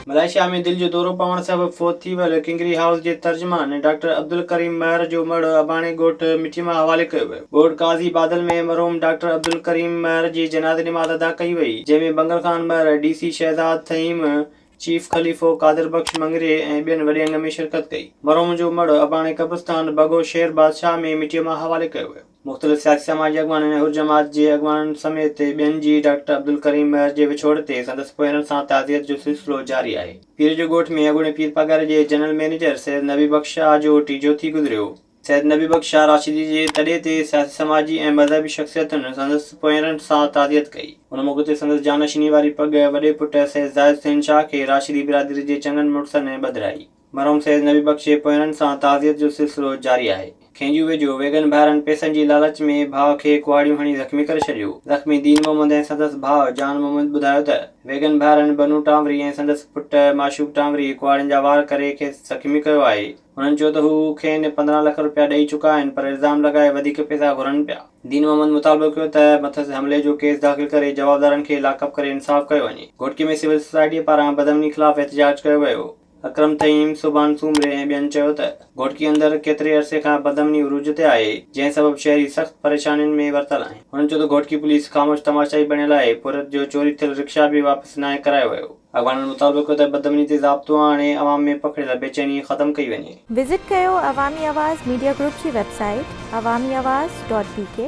Malaysia ۾ دل جو دورو پوڻ سبب فوت ٿي ويل ڪنگري هائوس جي ترجمان ڊاڪٽر عبدالڪريم مهر جو مڙهه اباڻي ڳوٺ مٺي ماء حوالي ڪيو ويو. ڳوٺ قاضي بادل ۾ مرحوم ڊاڪٽر عبدالڪريم مهر جي جنازي نماز ادا ڪئي وئي، جنهن ۾ Bangal Khan Mahar, D C Shahzad Thaheem, chief Khalifo Qadir Bakhsh Mangrio ۽ ٻين وڏي انگ ۾ شرڪت ڪئي. مرحوم جو مڙهه اباڻي قبرستان بگو شير بادشاهه ۾ مٽيء ماء حوالي ڪيو ويو. مختلف سياسي سماجي اڳواڻن ۽ حر جماعت جي اڳواڻن سميت ٻين جي ڊاڪٽر عبدالڪريم مير جي وڇوڙ تي سندس پويرن سان تعزيت جو سلسلو جاري آهي. پير جو ڳوٺ ۾ اڳوڻي پير پگهر جي جنرل مئنيجر سيد نبي بخش شاهه جو ٽيجهو ٿي گذريو. سيد نبي بخش شاهه راشدي جي تڏي تي سياسي سماجي ۽ مذهبي شخصيتن سندس پويرن سان تعزيت ڪئي. ان موقعي تي سندس جانشيني واري پڳ وڏي پٽ سيد زاهد حسين شاهه کي راشدي برادري جي چڱن مڙسن ٻڌرائي. مرحوم سيد نبي بخش جي پوياڻن سان تعزيت جو سلسلو جاري آهي. کينجو ويجهو ويڳن ڀائرن پئسن جي لالچ ۾ ڀاء کي ڪهاڙيون هڻي زخمي ڪري ڇڏيو. زخمي دين محمد ۽ سندس ڀاء جان محمد ٻڌايو ته، ويڳن ڀائرن بنو ٽانوري ۽ سندس پٽ معشوق ٽانوري ڪهاڙين جا وار ڪري کيس زخمي ڪيو آهي. هنن چيو ته هو کين پندرهن لک رپيا ڏئي چڪا آهن پر الزام لڳائي وڌيڪ پئسا گهرن پيا. دين محمد مطالبو ڪيو ته مٿس حملي جو ڪيس داخل ڪري جوابدارن کي لاڪ اپ ڪري انصاف ڪيو وڃي. گهوٽڪي ۾ سول سوسائٽيء پاران بدامني خلاف احتجاج ڪيو ويو. اڪرم طييم، سبحان سومري ۽ ٻين چيو ته گهوٽڪي اندر ڪيتري عرصي کان بدامني عروج تي آهي، جنهن سبب شهري سخت پريشانين ۾ ورتل آهن. هنن چيو ته گهوٽڪي پوليس خاموش تماشائي بڻيل آهي، پورهيت جو چوري ٿيل رڪشا به واپس ناهي ڪرايو ويو. اڳواڻن مطالبو ڪيو ته بدامني تي ضابطو آڻي عوام ۾ پکڙيل بيچيني ختم ڪئي وڃي. وزٽ ڪيو عوامي آواز ميڊيا گروپ جي website Awami Awaz dot بي ڪي.